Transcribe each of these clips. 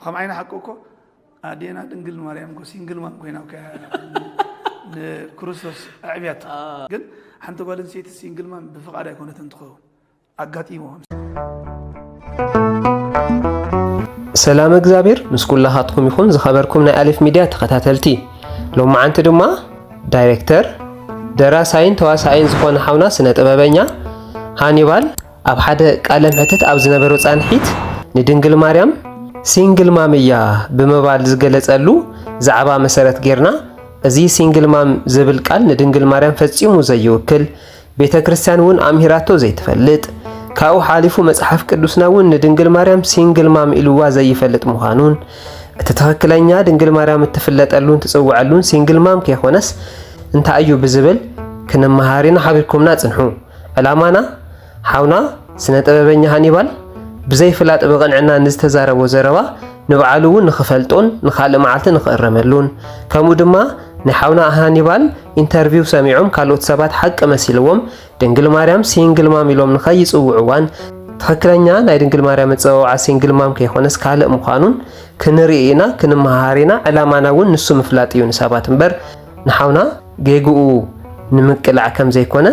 ከምዓይ ንሓቂ እኮ ኣዴና ድንግል ማርያም እኮ ሲንግል ማም ኮይና ንክርስቶስ ኣዕብያት ግን ሓንቲ ጓል ኣንስተይቲ ሲንግል ማም ብፍቃድ ኣይኮነት እንትኸውን ኣጋጢሞ ሰላም እግዚኣብሔር ምስ ኩላኻትኩም ይኹን ዝኸበርኩም ናይ ኣሌፍ ሚድያ ተኸታተልቲ ሎም መዓንቲ ድማ ዳይሬክተር ደራሳይን ተዋሳኣይን ዝኾነ ሓውና ስነ ጥበበኛ ሃኒባል ኣብ ሓደ ቃለ መሕትት ኣብ ዝነበሮ ፃንሒት ንድንግል ማርያም ሲንግል ማም እያ ብምባል ዝገለፀሉ ዛዕባ መሰረት ጌርና እዚ ሲንግል ማም ዝብል ቃል ንድንግል ማርያም ፈፂሙ ዘይውክል ቤተ ክርስቲያን እውን ኣምሂራቶ ዘይትፈልጥ ካብኡ ሓሊፉ መጽሓፍ ቅዱስና እውን ንድንግል ማርያም ሲንግል ማም ኢልዋ ዘይፈልጥ ምዃኑን እቲ ትኽክለኛ ድንግል ማርያም እትፍለጠሉን ትጽውዐሉን ሲንግል ማም ከይኮነስ እንታይ እዩ ብዝብል ክንመሃር ኢና ሓቢርኩምና ጽንሑ ዕላማና ሓውና ስነ ጥበበኛ ሃኒባል ብዘይ ፍላጥ ብቕንዕና ንዝተዛረቦ ዘረባ ንብዓሉ እውን ንኽፈልጦን ንኻልእ መዓልቲ ንኽእረመሉን ከምኡ ድማ ናይ ሓውና ሃኒባል ኢንተርቪው ሰሚዖም ካልኦት ሰባት ሓቂ መሲልዎም ድንግል ማርያም ሲንግል ማም ኢሎም ንኸይጽውዕዋን ትኽክለኛ ናይ ድንግል ማርያም መጸዋውዓ ሲንግል ማም ከይኮነስ ካልእ ምዃኑን ክንርኢ ኢና ክንመሃሃር ኢና ዕላማና እውን ንሱ ምፍላጥ እዩ ንሰባት እምበር ንሓውና ጌግኡ ንምቅላዕ ከም ዘይኮነ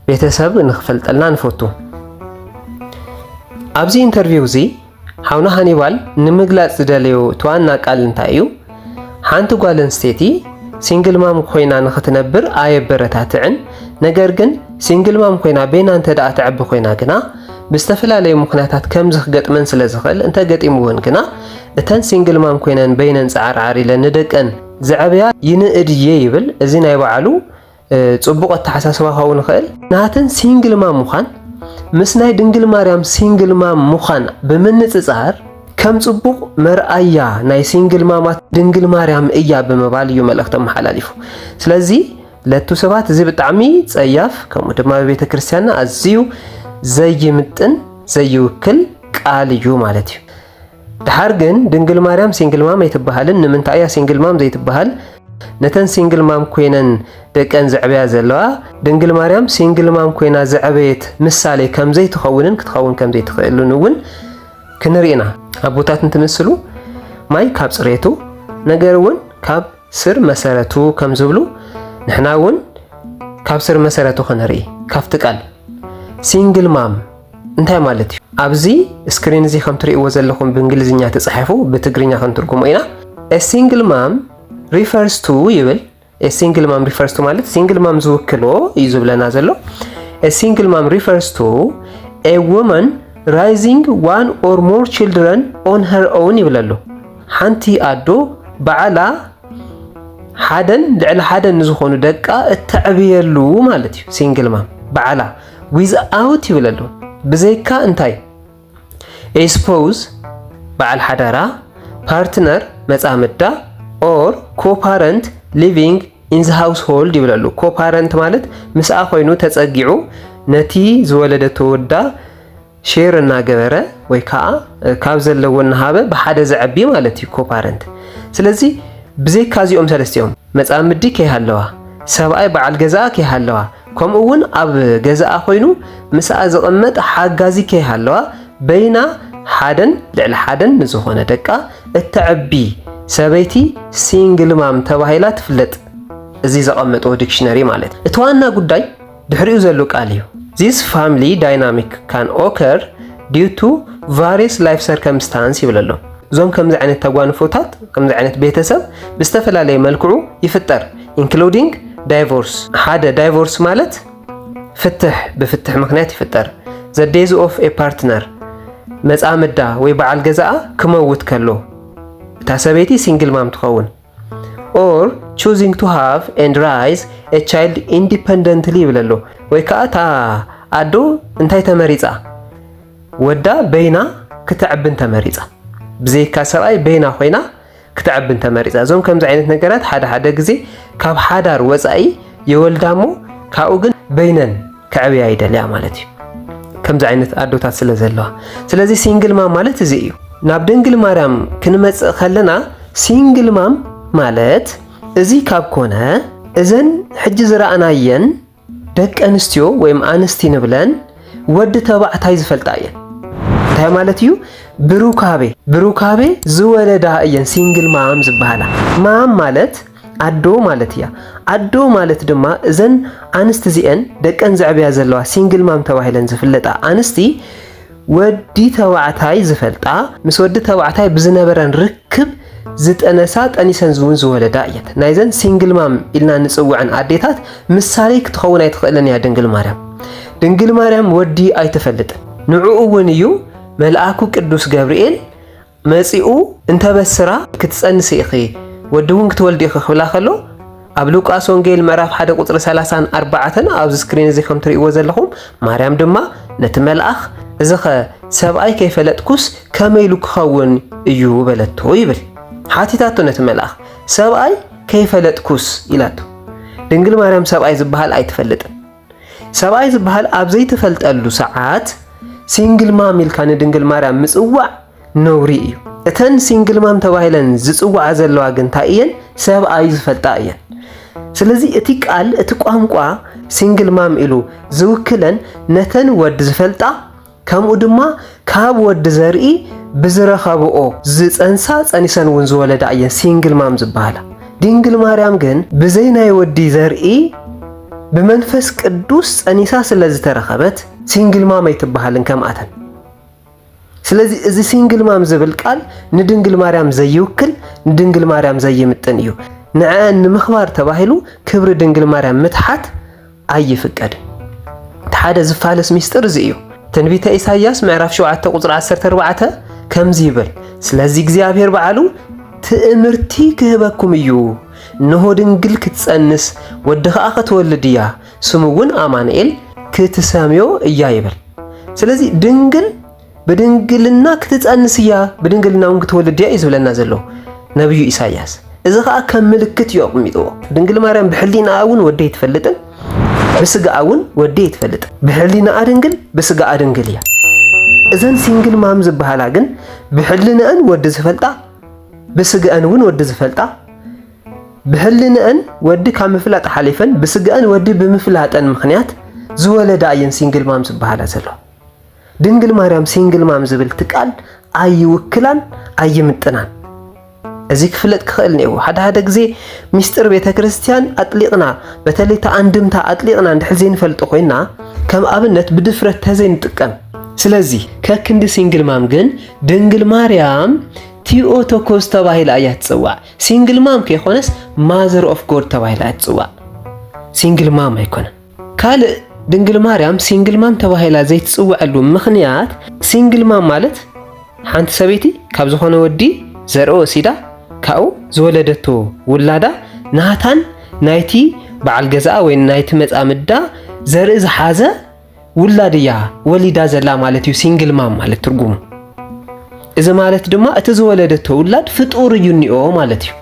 ቤተሰብ ንኽፈልጠልና ንፈቱ። ኣብዚ ኢንተርቪው እዚ ሓውና ሃኒባል ንምግላጽ ዝደለዮ እቲ ዋና ቃል እንታይ እዩ? ሓንቲ ጓል ኣንስተይቲ ሲንግል ማም ኮይና ንኽትነብር ኣየበረታትዕን፣ ነገር ግን ሲንግል ማም ኮይና ቤና እንተደኣ ትዕቢ ኮይና ግና ብዝተፈላለዩ ምኽንያታት ከምዚ ክገጥመን ስለ ዝኽእል እንተገጢምወን ግና እተን ሲንግል ማም ኮይነን በይነን ጸዓርዓር ኢለን ንደቀን ዝዐበያ ይንእድ እየ ይብል እዚ ናይ ባዕሉ ጽቡቕ ኣተሓሳስባ ክኸውን ይኽእል። ናተን ሲንግል ማም ምዃን ምስ ናይ ድንግል ማርያም ሲንግል ማም ምዃን ብምንጽጻር ከም ጽቡቕ መርኣያ ናይ ሲንግል ማማት ድንግል ማርያም እያ ብምባል እዩ መልእኽቲ ኣመሓላሊፉ። ስለዚ ለቱ ሰባት እዚ ብጣዕሚ ጸያፍ ከምኡ ድማ በቤተ ክርስቲያንና ኣዝዩ ዘይምጥን ዘይውክል ቃል እዩ ማለት እዩ። ድሓር ግን ድንግል ማርያም ሲንግል ማም ኣይትበሃልን ንምንታይ እያ ሲንግል ማም ዘይትበሃል ነተን ሲንግል ማም ኮይነን ደቀን ዘዕበያ ዘለዋ ድንግል ማርያም ሲንግል ማም ኮይና ዘዕበየት ምሳሌ ከምዘይትኸውንን ክትኸውን ከምዘይትኽእልን እውን ክንርኢና ኣቦታት እንትምስሉ ማይ ካብ ፅሬቱ ነገር እውን ካብ ስር መሰረቱ ከም ዝብሉ ንሕና እውን ካብ ስር መሰረቱ ክንርኢ ካብቲ ቃል ሲንግል ማም እንታይ ማለት እዩ? ኣብዚ ስክሪን እዚ ከም ትርእይዎ ዘለኹም ብእንግሊዝኛ ተጻሒፉ ብትግርኛ ክንትርጉሞ ኢና። ኤ ሲንግል ማም ሪፈርስ ቱ ይብል። ኤ ሲንግል ማም ሪፈርስ ቱ ማለት ሲንግል ማም ዝውክሎ እዩ ዝብለና ዘሎ። ኤ ሲንግል ማም ሪፈርስ ቱ ኤ ውመን ራይዚንግ ዋን ኦር ሞር ችልድረን ኦን ሀር ኦውን ይብለሉ። ሓንቲ ኣዶ ባዕላ ሓደን ልዕሊ ሓደን ንዝኾኑ ደቃ እተዕብየሉ ማለት እዩ። ሲንግል ማም ባዕላ ዊዝ ኣውት ይብለሉ ብዘይካ እንታይ ኤስፖዝ በዓል ሓዳራ፣ ፓርትነር መጻምዳ፣ ኦር ኮፓረንት ሊቪንግ ኢን ዘ ሃውስ ሆልድ ይብለሉ። ኮፓረንት ማለት ምስኣ ኮይኑ ተጸጊዑ ነቲ ዝወለደቶ ወዳ ሼር እናገበረ ወይ ከዓ ካብ ዘለዎ እናሃበ ብሓደ ዘዐቢ ማለት እዩ ኮፓረንት። ስለዚ ብዘይካ እዚኦም ሰለስቲኦም መፃምዲ ከይሃለዋ፣ ሰብኣይ በዓል ገዛኣ ከይሃለዋ፣ ከምኡ እውን ኣብ ገዛኣ ኮይኑ ምስኣ ዝቕመጥ ሓጋዚ ከይሃለዋ በይና ሓደን ልዕሊ ሓደን ንዝኾነ ደቃ እተዐቢ ሰበይቲ ሲንግል ማም ተባሂላ ትፍለጥ። እዚ ዘቐመጥዎ ዲክሽነሪ ማለት እቲ ዋና ጉዳይ ድሕሪኡ ዘሎ ቃል እዩ። ዚስ ፋምሊ ዳይናሚክ ካን ኦከር ዲዩ ቱ ቫሪየስ ላይፍ ሰርከምስታንስ ይብል ኣሎ። እዞም ከምዚ ዓይነት ተጓንፎታት ከምዚ ዓይነት ቤተሰብ ብዝተፈላለየ መልክዑ ይፍጠር ኢንክሉዲንግ ዳይቮርስ ሓደ ዳይቮርስ ማለት ፍትሕ ብፍትሕ ምክንያት ይፍጠር ዘዴዝ ኦፍ ኤ ፓርትነር መፃምዳ ወይ በዓል ገዛኣ ክመውት ከሎ እታ ሰበይቲ ሲንግል ማም ትኸውን ኦር ቹዚንግ ቱ ሃቭ ኤንድ ራይዝ ኤ ቻይልድ ኢንዲፐንደንትሊ ይብል ኣሎ ወይ ከዓ እታ ኣዶ እንታይ ተመሪፃ ወዳ በይና ክተዕብን ተመሪፃ ብዘይካ ሰብኣይ በይና ኮይና ክተዕብን ተመሪፃ እዞም ከምዚ ዓይነት ነገራት ሓደ ሓደ ግዜ ካብ ሓዳር ወፃኢ የወልዳ እሞ ካብኡ ግን በይነን ከዕብያ ይደልያ ማለት እዩ ከምዚ ዓይነት ኣዶታት ስለ ዘለዋ ስለዚ ሲንግል ማም ማለት እዚ እዩ ናብ ድንግል ማርያም ክንመጽእ ከለና ሲንግል ማም ማለት እዚ ካብ ኮነ እዘን ሕጂ ዝረኣናየን ደቂ ኣንስትዮ ወይም ኣንስቲ ንብለን ወዲ ተባዕታይ ዝፈልጣ እየን እንታይ ማለት እዩ ብሩካቤ ብሩካቤ ዝወለዳ እየን ሲንግል ማም ዝበሃላ ማም ማለት ኣዶ ማለት እያ። ኣዶ ማለት ድማ እዘን ኣንስቲ እዚኤን ደቀን ዘዕብያ ዘለዋ ሲንግል ማም ተባሂለን ዝፍለጣ ኣንስቲ ወዲ ተባዕታይ ዝፈልጣ ምስ ወዲ ተባዕታይ ብዝነበረን ርክብ ዝጠነሳ ጠኒሰን እውን ዝወለዳ እየት። ናይዘን ሲንግል ማም ኢልና ንፅውዐን ኣዴታት ምሳሌ ክትኸውን ኣይትኽእልን እያ ድንግል ማርያም። ድንግል ማርያም ወዲ ኣይትፈልጥን። ንዕኡ እውን እዩ መልኣኩ ቅዱስ ገብርኤል መጺኡ እንተበስራ ክትጸንሲ ኢኺ ወዲ ውን ክትወልዲ ኢኺ ክብላ ከሎ ኣብ ሉቃስ ወንጌል ምዕራፍ 1 ቁጽሪ 30 ኣርባዓተን ኣብዚ ስክሪን እዚ ከም ትርእይዎ ዘለኹም ማርያም ድማ ነቲ መልኣኽ እዚኸ ሰብኣይ ከይፈለጥኩስ ከመይ ኢሉ ክኸውን እዩ በለቶ ይብል ሓቲታቶ ነቲ መልኣኽ ሰብኣይ ከይፈለጥኩስ ኢላቶ ድንግል ማርያም ሰብኣይ ዝበሃል ኣይትፈልጥን ሰብኣይ ዝበሃል ኣብ ዘይተፈልጠሉ ሰዓት ሲንግል ማም ኢልካ ንድንግል ማርያም ምጽዋዕ ነውሪ እዩ። እተን ሲንግል ማም ተባሂለን ዝጽዋዓ ዘለዋ ግን እንታይ እየን? ሰብኣዩ ዝፈልጣ እየን። ስለዚ እቲ ቃል እቲ ቋንቋ ሲንግል ማም ኢሉ ዝውክለን ነተን ወዲ ዝፈልጣ ከምኡ ድማ ካብ ወዲ ዘርኢ ብዝረኸብኦ ዝጸንሳ ጸኒሰን እውን ዝወለዳ እየን ሲንግል ማም ዝበሃላ። ድንግል ማርያም ግን ብዘይ ናይ ወዲ ዘርኢ ብመንፈስ ቅዱስ ጸኒሳ ስለ ዝተረኸበት ሲንግል ማም ኣይትበሃልን ከምኣተን። ስለዚ እዚ ሲንግል ማም ዝብል ቃል ንድንግል ማርያም ዘይውክል ንድንግል ማርያም ዘይምጥን እዩ። ንዕዐን ንምኽባር ተባሂሉ ክብሪ ድንግል ማርያም ምትሓት ኣይፍቀድ እቲ ሓደ ዝፋለስ ሚስጥር እዚ እዩ። ትንቢተ ኢሳይያስ ምዕራፍ 7 ቁጽሪ 14 ከምዚ ይብል፣ ስለዚ እግዚኣብሔር በዓሉ ትእምርቲ ክህበኩም እዩ፣ እነሆ ድንግል ክትጸንስ ወዲ ኸኣ ክትወልድ እያ፣ ስሙ እውን ኣማንኤል ክትሰምዮ እያ ይብል። ስለዚ ድንግል ብድንግልና ክትጸንስ እያ፣ ብድንግልና እውን ክትወልድ እያ እዩ ዝብለና ዘሎ ነብዩ ኢሳያስ። እዚ ከዓ ከም ምልክት እዩ ኣቕሚጥዎ። ድንግል ማርያም ብሕሊናኣ እውን ወዲ ኣይትፈልጥን፣ ብስጋኣ እውን ወዲ ኣይትፈልጥን። ብሕሊናኣ ድንግል፣ ብስጋኣ ድንግል እያ። እዘን ሲንግል ማም ዝበሃላ ግን ብሕልንአን ወዲ ዝፈልጣ፣ ብስጋኣን እውን ወዲ ዝፈልጣ፣ ብሕልንአን ወዲ ካብ ምፍላጥ ሓሊፈን ብስጋኣን ወዲ ብምፍላጠን ምክንያት ዝወለዳ እየን ሲንግል ማም ዝበሃላ ዘሎ። ድንግል ማርያም ሲንግል ማም ዝብል እቲ ቃል ኣይውክላን ኣይምጥናን። እዚ ክፍለጥ ክኽእል ነይዎ። ሓደ ሓደ ግዜ ሚስጥር ቤተ ክርስቲያን ኣጥሊቕና በተለይ እቲ ኣንድምታ ኣጥሊቕና እንድሕር ዘይንፈልጦ ኮይና ከም ኣብነት ብድፍረት ተዘይንጥቀም ስለዚ ከክንዲ ሲንግል ማም ግን ድንግል ማርያም ቲኦቶኮስ ተባሂላ እያ ትጽዋዕ። ሲንግል ማም ከይኮነስ ማዘር ኦፍ ጎድ ተባሂላ እያ ትጽዋዕ። ሲንግል ማም ኣይኮነን። ካልእ ድንግል ማርያም ሲንግል ማም ተባሂላ ዘይትጽውዐሉ ምኽንያት ሲንግል ማም ማለት ሓንቲ ሰበይቲ ካብ ዝኾነ ወዲ ዘርኢ ወሲዳ ካብኡ ዝወለደቶ ውላዳ ናታን ናይቲ በዓል ገዛኣ ወይ ናይቲ መጻምዳ ዘርኢ ዝሓዘ ውላድ እያ ወሊዳ ዘላ ማለት እዩ ሲንግል ማም ማለት ትርጉሙ። እዚ ማለት ድማ እቲ ዝወለደቶ ውላድ ፍጡር እዩ እኒኦ ማለት እዩ።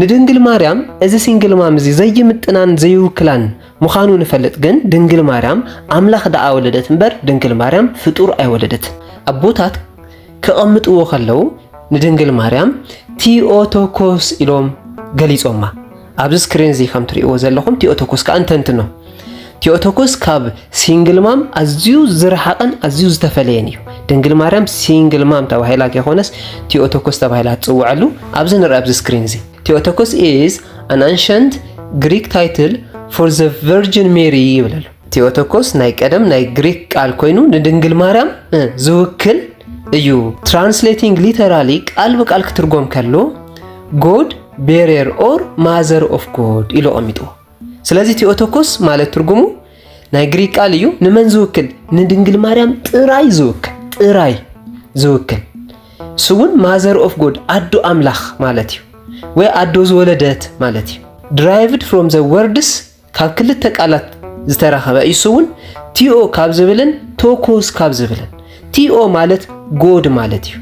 ንድንግል ማርያም እዚ ሲንግል ማም እዚ ዘይምጥናን ዘይውክላን ምዃኑ ንፈልጥ ግን ድንግል ማርያም ኣምላኽ ደኣ ወለደት እምበር ድንግል ማርያም ፍጡር ኣይወለደትን። ኣቦታት ከቐምጥዎ ከለዉ ንድንግል ማርያም ቲኦቶኮስ ኢሎም ገሊጾማ። ኣብዚ ስክሪን እዚ ከም ትርእይዎ ዘለኹም ቲኦቶኮስ ከኣ ንተንትኖ። ቲኦቶኮስ ካብ ሲንግል ማም ኣዝዩ ዝረሓቐን ኣዝዩ ዝተፈለየን እዩ። ድንግል ማርያም ሲንግል ማም ተባሂላ ከይኮነስ ቲኦቶኮስ ተባሂላ ትጽውዐሉ ኣብዚ ንርኣ ኣብዚ ስክሪን እዚ ቴዎቶኮስ ኢዝ ኣን ኣንሸንት ግሪክ ታይትል ፎር ዘ ቨርጅን ሜሪ ይብል ኣሎ። ቴዎቶኮስ ናይ ቀደም ናይ ግሪክ ቃል ኮይኑ ንድንግል ማርያም ዝውክል እዩ። ትራንስሌቲንግ ሊተራሊ ቃል ብቃል ክትርጎም ከሎ ጎድ ቤሬር ኦር ማዘር ኦፍ ጎድ ኢሉ ኣቐሚጥዎ። ስለዚ ቴኦቶኮስ ማለት ትርጉሙ ናይ ግሪክ ቃል እዩ። ንመን ዝውክል? ንድንግል ማርያም ጥራይ ዝውክል ጥራይ ዝውክል እሱ እውን ማዘር ኦፍ ጎድ ኣዶ ኣምላኽ ማለት እዩ፣ ወይ ኣዶ ዝወለደት ማለት እዩ። ድራይቭድ ፍሮም ዘ ወርድስ ካብ ክልተ ቃላት ዝተረኸበ እዩ። እሱ እውን ቲኦ ካብ ዝብልን ቶኮስ ካብ ዝብልን ቲኦ ማለት ጎድ ማለት እዩ።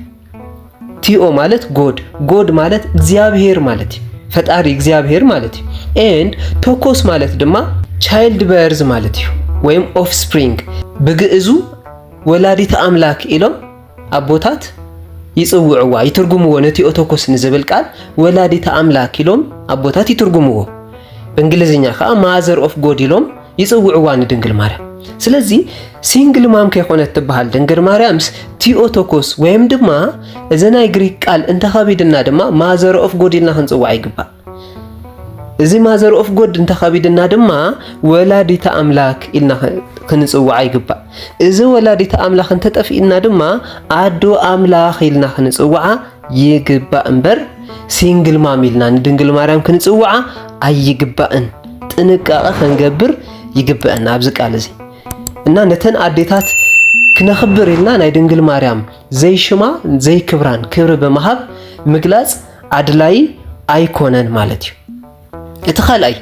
ቲኦ ማለት ጎድ ጎድ ማለት እግዚኣብሄር ማለት እዩ ፈጣሪ እግዚኣብሄር ማለት እዩ ኤንድ ቶኮስ ማለት ድማ ቻይልድ በርዝ ማለት እዩ ወይም ኦፍስፕሪንግ ብግእዙ ወላዲት ኣምላክ ኢሎም ኣቦታት ይጽውዕዋ ይትርጉምዎ ነቲ ኦቶኮስ ንዝብል ቃል ወላዲት ኣምላክ ኢሎም ኣቦታት ይትርጉምዎ ብእንግሊዝኛ ከዓ ማዘር ኦፍ ጎድ ኢሎም ይጽውዕዋ ንድንግል ማርያም። ስለዚ ሲንግል ማም ከይኮነት ትበሃል ድንግል ማርያምስ ቲኦቶኮስ ወይም ድማ እዚ ናይ ግሪክ ቃል እንተኸቢድና ድማ ማዘር ኦፍ ጎድ ኢልና ክንጽዋዕ ይግባእ። እዚ ማዘር ኦፍ ጎድ እንተኸቢድና ድማ ወላዲተ ኣምላክ ኢልና ክንጽዋዕ ይግባእ። እዚ ወላዲተ ኣምላክ እንተጠፊእና ድማ ኣዶ ኣምላክ ኢልና ክንጽዋዓ ይግባእ እምበር ሲንግል ማም ኢልና ንድንግል ማርያም ክንጽውዓ ኣይግባእን። ጥንቃቐ ከንገብር ይግበአና ኣብዚ ቃል እዚ እና ነተን ኣዴታት ክነኽብር ኢልና ናይ ድንግል ማርያም ዘይሽማ ዘይክብራን ክብሪ ብምሃብ ምግላጽ ኣድላይ ኣይኮነን ማለት እዩ። እቲ ካልኣይ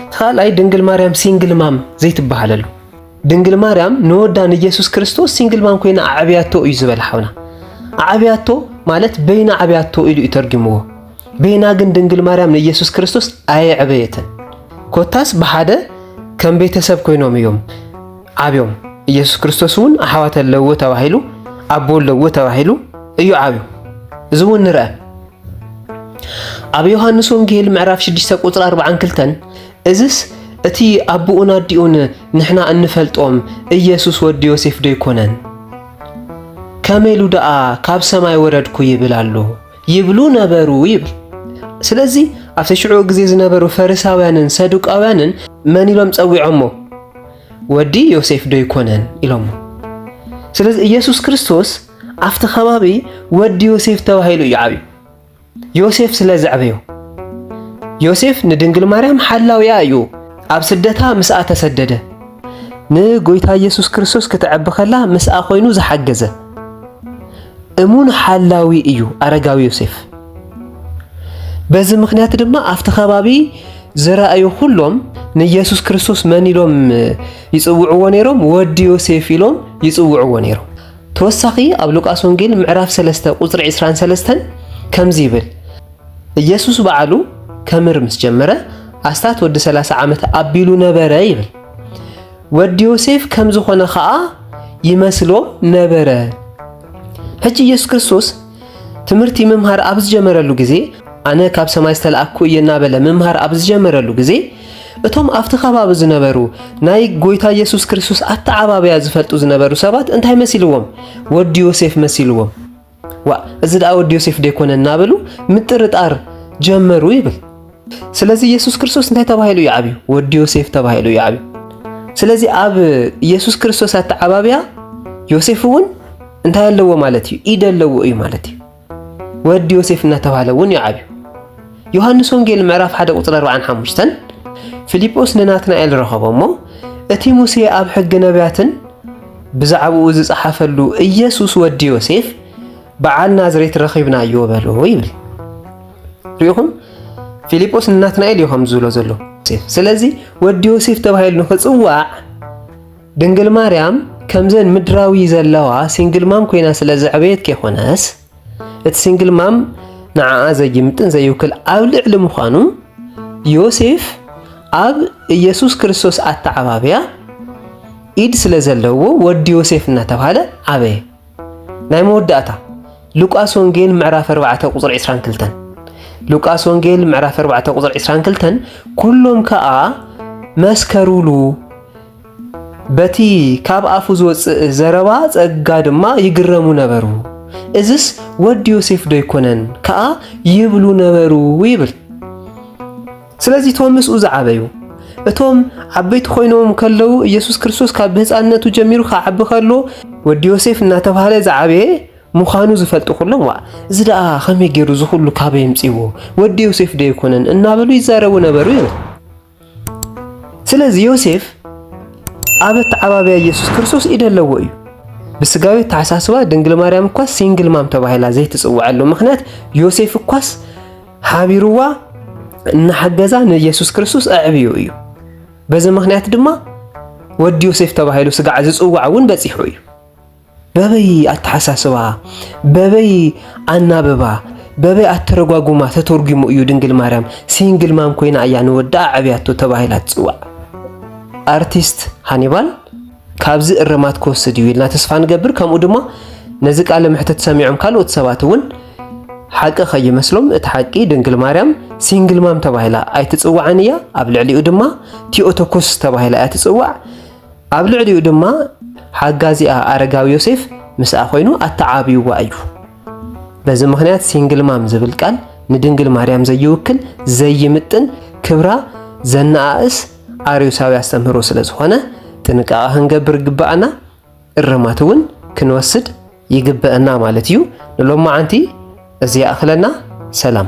እቲ ካልኣይ ድንግል ማርያም ሲንግል ማም ዘይትበሃለሉ ድንግል ማርያም ንወዳ ንኢየሱስ ክርስቶስ ሲንግል ማም ኮይና ኣዕብያቶ እዩ ዝበለ ሓውና ኣዕብያቶ ማለት በይና ዓብያቶ ኢሉ እዩ ተርጊምዎ በይና ግን ድንግል ማርያም ንኢየሱስ ክርስቶስ ኣየዕበየትን ኮታስ ብሓደ ከም ቤተሰብ ኮይኖም እዮም ዓብዮም ኢየሱስ ክርስቶስ እውን ኣሕዋት ኣለዎ ተባሂሉ ኣቦ ኣለዎ ተባሂሉ እዩ ዓብዩ እዚ እውን ንርአ ኣብ ዮሃንስ ወንጌል ምዕራፍ 6 ቁጽሪ 42 እዝስ እቲ ኣቦኡን ኣዲኡን ንሕና እንፈልጦም ኢየሱስ ወዲ ዮሴፍ ዶ ይኮነን? ከመይ ኢሉ ደኣ ካብ ሰማይ ወረድኩ ይብል ኣሎ ይብሉ ነበሩ ይብል። ስለዚ ኣብ ሽዑ ግዜ ዝነበሩ ፈሪሳውያንን ሰዱቃውያንን መን ኢሎም ጸዊዖሞ? ወዲ ዮሴፍ ዶ ይኮነን ኢሎሞ። ስለዚ ኢየሱስ ክርስቶስ ኣብቲ ከባቢ ወዲ ዮሴፍ ተባሂሉ እዩ ዓብዩ። ዮሴፍ ስለ ዘዕበዮ ዮሴፍ ንድንግል ማርያም ሓላውያ እዩ። ኣብ ስደታ ምስኣ ተሰደደ። ንጎይታ ኢየሱስ ክርስቶስ ክተዕቢ ከላ ምስኣ ኮይኑ ዝሓገዘ እሙን ሓላዊ እዩ ኣረጋዊ ዮሴፍ። በዚ ምክንያት ድማ ኣብቲ ከባቢ ዝረኣዩ ኩሎም ንኢየሱስ ክርስቶስ መን ኢሎም ይጽውዕዎ ነይሮም? ወዲ ዮሴፍ ኢሎም ይጽውዕዎ ነይሮም። ተወሳኺ ኣብ ሉቃስ ወንጌል ምዕራፍ ሰለስተ ቁጽሪ ዕስራን ሰለስተን ከምዚ ይብል ኢየሱስ በዓሉ ከምር ምስ ጀመረ ኣስታት ወዲ ሰላሳ ዓመት ኣቢሉ ነበረ ይብል ወዲ ዮሴፍ ከም ዝኾነ ኸኣ ይመስሎ ነበረ ሕጂ ኢየሱስ ክርስቶስ ትምህርቲ ምምሃር ኣብ ዝጀመረሉ ግዜ ኣነ ካብ ሰማይ ዝተላእኩ እየ እናበለ ምምሃር ኣብ ዝጀመረሉ ግዜ እቶም ኣብቲ ከባቢ ዝነበሩ ናይ ጎይታ ኢየሱስ ክርስቶስ ኣተዓባብያ ዝፈልጡ ዝነበሩ ሰባት እንታይ መሲልዎም? ወዲ ዮሴፍ መሲልዎም። ዋ እዚ ደኣ ወዲ ዮሴፍ ደይኮነ እናበሉ ምጥርጣር ጀመሩ ይብል። ስለዚ ኢየሱስ ክርስቶስ እንታይ ተባሂሉ እዩ ዓብዩ? ወዲ ዮሴፍ ተባሂሉ እዩ ዓብዩ። ስለዚ ኣብ ኢየሱስ ክርስቶስ ኣተዓባብያ ዮሴፍ እውን እንታይ ኣለዎ ማለት እዩ? ኢድ ኣለዎ እዩ ማለት እዩ። ወዲ ዮሴፍ እናተባህለ እውን እዩ ዓብዩ። ዮሐንስ ወንጌል ምዕራፍ 1 ቁጽሪ 45 ፊልጶስ ንናትናኤል ረኸቦ እሞ እቲ ሙሴ ኣብ ሕጊ ነቢያትን ብዛዕባኡ ዝጸሓፈሉ ኢየሱስ ወዲ ዮሴፍ በዓል ናዝሬት ረኺብናዮ በሎ ይብል። ሪኢኹም ፊልጶስ ንናትናኤል እዩ ከም ዝብሎ ዘሎ። ስለዚ ወዲ ዮሴፍ ተባሂሉ ንኽፅዋዕ ድንግል ማርያም ከምዘን ምድራዊ ዘለዋ ሲንግል ማም ኮይና ስለ ዘዕበየት ከይኮነስ እቲ ሲንግል ማም ንዓኣ ዘይምጥን ዘይውክል ኣብ ልዕሊ ምዃኑ ዮሴፍ ኣብ ኢየሱስ ክርስቶስ ኣተዓባብያ ኢድ ስለ ዘለዎ ወዲ ዮሴፍ እናተባህለ ዓበየ። ናይ መወዳእታ ሉቃስ ወንጌል ምዕራፍ 4 ቁጽሪ 22 ሉቃስ ወንጌል ምዕራፍ 4 ቁጽሪ 22 ኩሎም ከኣ መስከሩሉ በቲ ካብ ኣፉ ዝወጽእ ዘረባ ጸጋ ድማ ይግረሙ ነበሩ እዝስ ወዲ ዮሴፍ ዶ ይኮነን ከኣ ይብሉ ነበሩ ይብል ስለዚ እቶም ምስኡ ዝዓበዩ እቶም ዓበይቲ ኮይኖም ከለዉ ኢየሱስ ክርስቶስ ካብ ብህፃንነቱ ጀሚሩ ክዓቢ ከሎ ወዲ ዮሴፍ እናተባህለ ዝዓበየ ምዃኑ ዝፈልጡ ኩሎም ዋ እዚ ደኣ ከመይ ገይሩ እዚ ኩሉ ካበይ የምፅዎ ወዲ ዮሴፍ ዶ ኣይኮነን እናበሉ ይዛረቡ ነበሩ እዮም። ስለዚ ዮሴፍ ኣብ ኣተዓባብያ ኢየሱስ ክርስቶስ ኢደ ኣለዎ እዩ። ብስጋዊ ኣተሓሳስባ ድንግል ማርያም እኳስ ሲንግል ማም ተባሂላ ዘይትፅውዐሉ ምክንያት ዮሴፍ እኳስ ሓቢርዋ እናሓገዛ ንኢየሱስ ክርስቶስ ኣዕብዮ እዩ። በዚ ምክንያት ድማ ወዲ ዮሴፍ ተባሂሉ ስጋዕ ዝጽዋዕ እውን በጺሑ እዩ። በበይ ኣተሓሳስባ፣ በበይ ኣናብባ፣ በበይ ኣተረጓጉማ ተተርጉሙ እዩ ድንግል ማርያም ሲንግል ማም ኮይና እያ ንወዳ ኣዕብያቶ ተባሂላ ትጽዋዕ። ኣርቲስት ሃኒባል ካብዚ እርማት ክወስድ እዩ ኢልና ተስፋ ንገብር። ከምኡ ድማ ነዚ ቃለ መሕትት ሰሚዖም ካልኦት ሰባት እውን ሓቂ ከይመስሎም እቲ ሓቂ ድንግል ማርያም ሲንግል ማም ተባሂላ ኣይትፅዋዕን እያ ኣብ ልዕሊኡ ድማ ቲኦቶኮስ ተባሂላ እያ ትፅዋዕ ኣብ ልዕሊኡ ድማ ሓጋዚኣ ኣረጋዊ ዮሴፍ ምስኣ ኮይኑ ኣተዓብይዋ እዩ በዚ ምክንያት ሲንግል ማም ዝብል ቃል ንድንግል ማርያም ዘይውክል ዘይምጥን ክብራ ዘነኣእስ ኣርዮሳዊ ኣስተምህሮ ስለ ዝኾነ ጥንቃቐ ክንገብር ይግብኣና፣ እርማት እውን ክንወስድ ይግብእና ማለት እዩ። ንሎማዓንቲ እዚ ይኣኽለና። ሰላም።